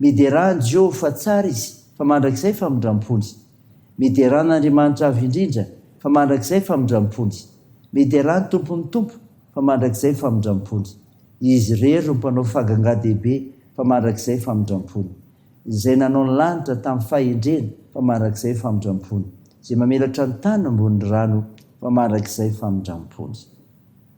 Miderà an'i Jehova fa tsara izy, fa mandrakizay famindram-ponja. Miderà an'Andriamanitra Avo Indrindra, fa mandrakizay famindram-ponja. Miderà ny Tompon'ny tompo, fa mandrakizay famindram-ponja. Izy irery no Mpanao fagangadehibe, fa mandrakizay famindram-pony. Izay nanao ny lanitra tamin'ny fahendreny, fa mandrakizay famindram-pony. Izay mamelatra ny tany ambonin'ny rano, fa mandrakizay famindram-ponja.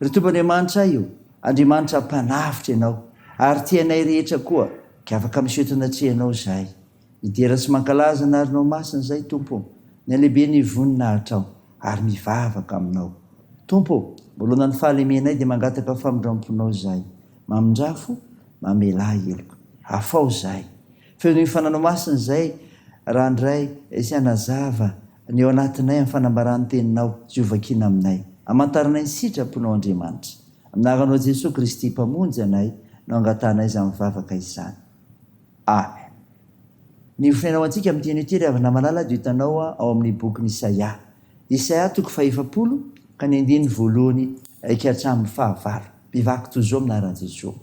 Ry Tompo Andriamanitray ô, Andriamanitra Mpanavotra Ianao, ary tia anay rehetra koa, ka afaka miseho tao anatrehanao izahay. Midera sy mankalaza ny arinao masina izahay, Tompo ô, ny halehiben'ny voninahitrao, ary mivavaka Aminao. Tompo ô, manoloana ny fahalemenay dia mangataka famindram-ponao izahay. Mamindrafo, mamelà heloko. Afaho izahay. Feon'ny fananao masina izay, Randray, sy hanazava Ny ao anatinay amin'ny fanambaran'ny Teninao, izay hovakina aminay. Hamantaranay ny sitraponao, Andriamanitra. Amin'ny anaranao Jesoa Kristy, Mpamonjy anay, no angatahanay izany vavaka izany. Amen. Ny hofonaina ho antsika amin'ity anio ity, ry havana malala, dia hitanao ao amin'ny bokin'i Isaia. Isaia, toko fahefapolo, ka ny andininy voalohany ka hatramin'ny fahavalo. Bevako toy izao amin'ny anaran'i Jeso.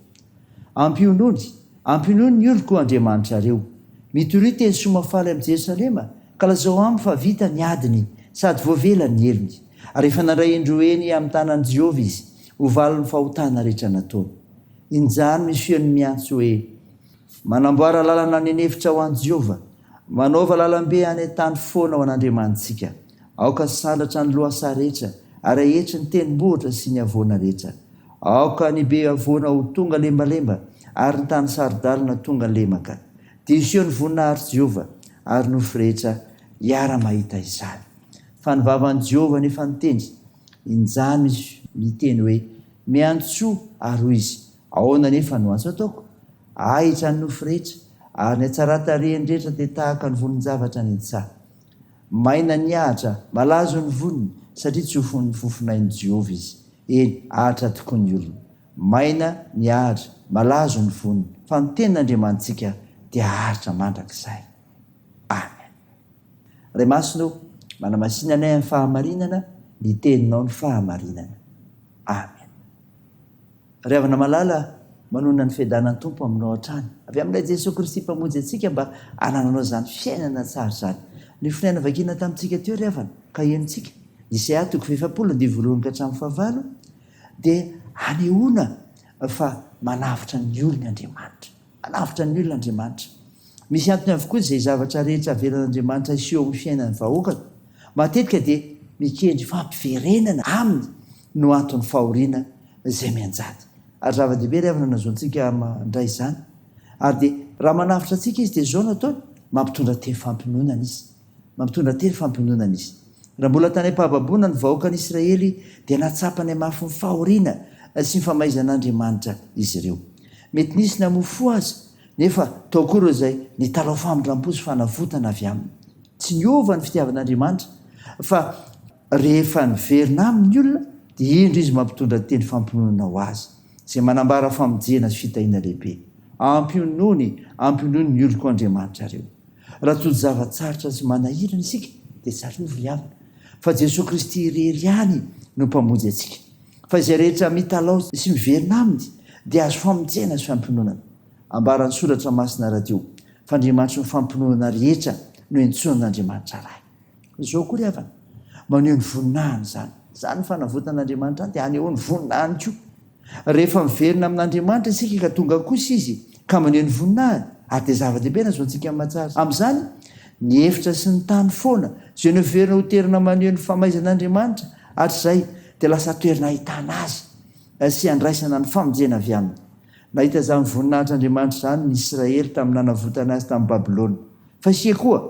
Ampionony, ampionony ny oloko Andriamanitra reo. Mitoria teny soa mahafaly amin'i Jerosalema, ka lazao aminy fa vita ny adiny sady voavela ny helony. Ary efa nandray indroa eny amin'ny tanan'i Jehovah izy, ho valin'ny fahotana rehetra nataony. Injany misy feony miantso hoe, Manamboara lalana any an'efitra ho an'i Jehovah, manaova lalambe any an-tany foana ho an'Andriamanitsika. Aoka sandratra ny lohasaha rehetra, ary ahetry ny tendrombohitra sy ny havoana rehetra. Aoka ny be havoana ho tonga lembalemba, ary ny tany saro-dalina tonga lemaka. Diso ny voninahitr'i Jehovah, ary nofy rehetra hiara-mahita izany. Fa ny vavan'i Jehovah nefa nitendry, injany misy miteny hoe, Miantsoa, ary hoy izy, Ahoana anefa no antso ataoko? Ahitra ny nofy rehetra, ary ny hatsaran-tarehiny rehetra dia tahaka ny vonin-javatra nintsaha. Maina ny Ahitra, malazo ny voniny, satria tsofin'ny fofonain'i Jehovah izy. Eny, Ahitra tokoa ny olona. Maina ny Ahitra, malazo ny voniny, fa ny Tenin'Andriamanitsika dia Ahitra mandrakizay. Amen. Ray Masina ô, manamasina anay amin'ny fahamarinana, ny Teninao ny fahamarinana. Amen. Ry havana malala, manonona ny fiadanan'ny Tompo aminao hatrany, avy amin'Ilay Jesoa Kristy Mpamonjy antsika mba hanananao izany fiainana tsara izany. Ny fonenana vakina tamintsika teo, ry havana, ka henontsika, Isaiah toko fahefapolo andivo voalohany ka hatramin'ny fahavalo, dia hanehoana fa manavotra ny olony Andriamanitra. Alavitra ny olona Andriamanitra. Misy antony avokoa izay zavatra rehetra avelan'Andriamanitra hiseho amin'ny fiainan'ny vahoakany. Matetika dia mikendry fampiverenana aminy no anton'ny fahoriana izay mianjady. Ary zava-dehibe ry havana ny hazoantsika mandray izany. Ary dia raha manavotra antsika Izy dia izao no ataony, mampitondra tenim-fampiononana Izy. Mampitondra tery fampiononana izy. Raha mbola tany am-pahababoana ny vahoakan'Israely, dia nahatsapany hamafy ny fahoriana sy ny famaizan'Andriamanitra izy ireo. Mety nisy namoa fo aza, nefa tao koa ireo izay nitalaho famindram-po sy fanavotana avy aminy. Tsy niova ny fitiavan'Andriamanitra, fa. Rehefa niverina aminy ny olona, dia indro izy mampitondra teny fampiononana ho azy, izay manambara famonjena sy fitahiana lehibe. Ampionony, ampionony ny oloko Andriamanitrareo. Raha tojo zava-tsarotra sy manahirana isika, dia tsarovy ry havana, fa Jesoa Kristy irery ihany no Mpamonjy antsika. Fa izay rehetra mitalaho sy miverina Aminy, dia azo famonjena sy fampiononana. Ambaran'ny Soratra Masina rahateo, fa Andriamanitry ny fampiononana rehetra no iantsoan'Andriamanitra Ray. Izao koa ry havana, maneho ny voninahiny izany. Izany ny fanavotan'Andriamanitra izany dia hanehoany ny voninahiny koa. Rehefa miverina amin'Andriamanitra isika ka tonga kosa Izy ka maneho ny voninahiny, ary dia zava-dehibe na zoantsika ny mahatsara azy. Amin'izany, ny efitra sy ny tany foana, izay noheverina ho toerana maneho ny famaizan'Andriamanitra hatrizay, dia lasa toerana ahitana Azy sy handraisana ny famonjena avy Aminy. Nahita izany voninahitr'Andriamanitra izany ny Israely tamin'ny nanavotany azy tamin'i Babylona. Fa isika koa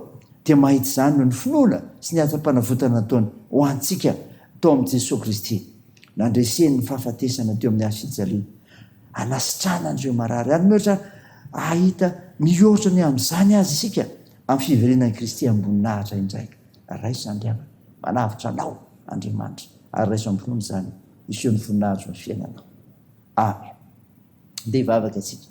dia mahita izany noho ny finoana sy ny hatsampanavotana nataony ho antsika tao amin'i Jesoa Kristy, nandreseny ny fahafatesana teo amin'ny hazo fijaliana, hanasitrana an'ireo marary. Hanome ohatra hahita mihoatra ny amin'izany azy isika amin'ny fiverenan'i Kristy am-boninahitra indray. Raiso Andriamana, manavotra anao Andriamanitra, ary raiso am-pinoana izany hiseho ny voninahitro amin'ny fiainanao. Amen. Ndeha hivavaka isika.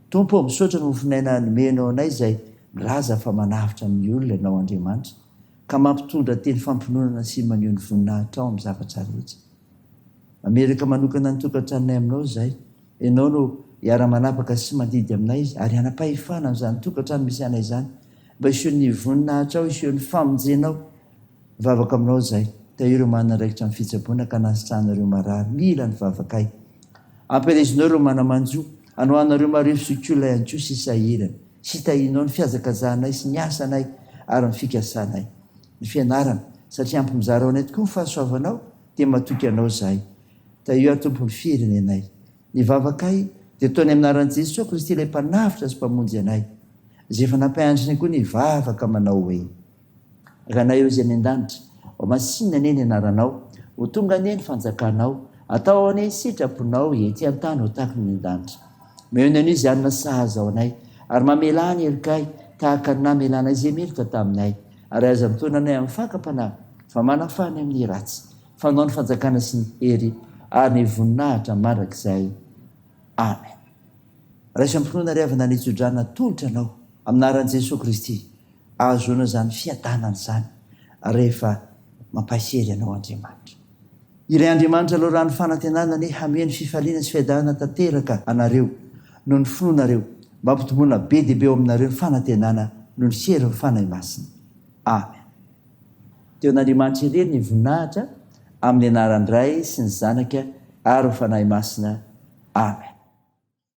Tompo ô, misaotra ny mofon'aina nomenao anay izay milaza fa manavotra ny olona Ianao Andriamanitra, ka mampitondra teny fampiononana sy maneho ny voninahitrao amin'ny zavatra rehetra. Mametraka manokana ny tokantranonay aminao izahay. Ianao no hiara-manapaka sy mandidy aminay izy, ary hanam-pahefana an'izany tokantrano misy anay izany, mba hisehon'ny voninahitrao, hisehon'ny famonjenao. Mivavaka aminao izahay. Tahio ireo manana andraikitra amin'ny fitsaboana ka nasitrahana ireo marary mila ny vavakay. Ampihalezinao ireo mana-manjo. Anohanao ireo marefo sy olona ihany koa sisa sahirana. Sitahinao ny fihazakazahanay sy ny asanay ary ny fikasanay. Ny fianarana. Satria ampy mizara ho anay tokoa ny fahasoavanao dia matoky anao izahay. Tahio aho Tompo ny firenenay. Ny vavakay dia atao ny amin'ny anaran'i Jesoa Kristy ilay Mpanavotra sy Mpamonjy anay. Izay efa nampianatra anay koa ny hivavaka manao hoe. Ranaivo izay any an-danitra. Ho masinina anie ny anaranao. Ho tonga anie ny fanjakanao. Atao anie ny sitraponao ety an-tany ho tahaka ny any an-danitra. Omeo ny anio izay hanina sahaza ho anay, ary mamelà ny herikay tahaka ny namelanay izay meloka taminay, ary aza mitaona anay amin'ny fakam-panahy, fa manafaha ny amin'ny ratsy. Fanao ny fanjakana sy ny hery ary ny voninahitra mandrakizay. Amen. Raiso am-pinoana ry havana ny tso-drano atolotra anao amin'aran'i Jesoa Kristy, ahazoana izany fiadanana izany rehefa mampaisy hery anao Andriamanitra. Ilay Andriamanitra loran'ny fanantenana anie hameno fifaliana sy fiadanana tanteraka anareo noho ny finoanareo mba hampitomboana be dia be ao aminareo ny fanantenana noho ny herin'ny Fanahy Masina. Amen. Teo an'Andriamanitra irery ny voninahitra amin'ny anaran'ny Ray sy ny Zanaka ary ny Fanahy Masina. Amen.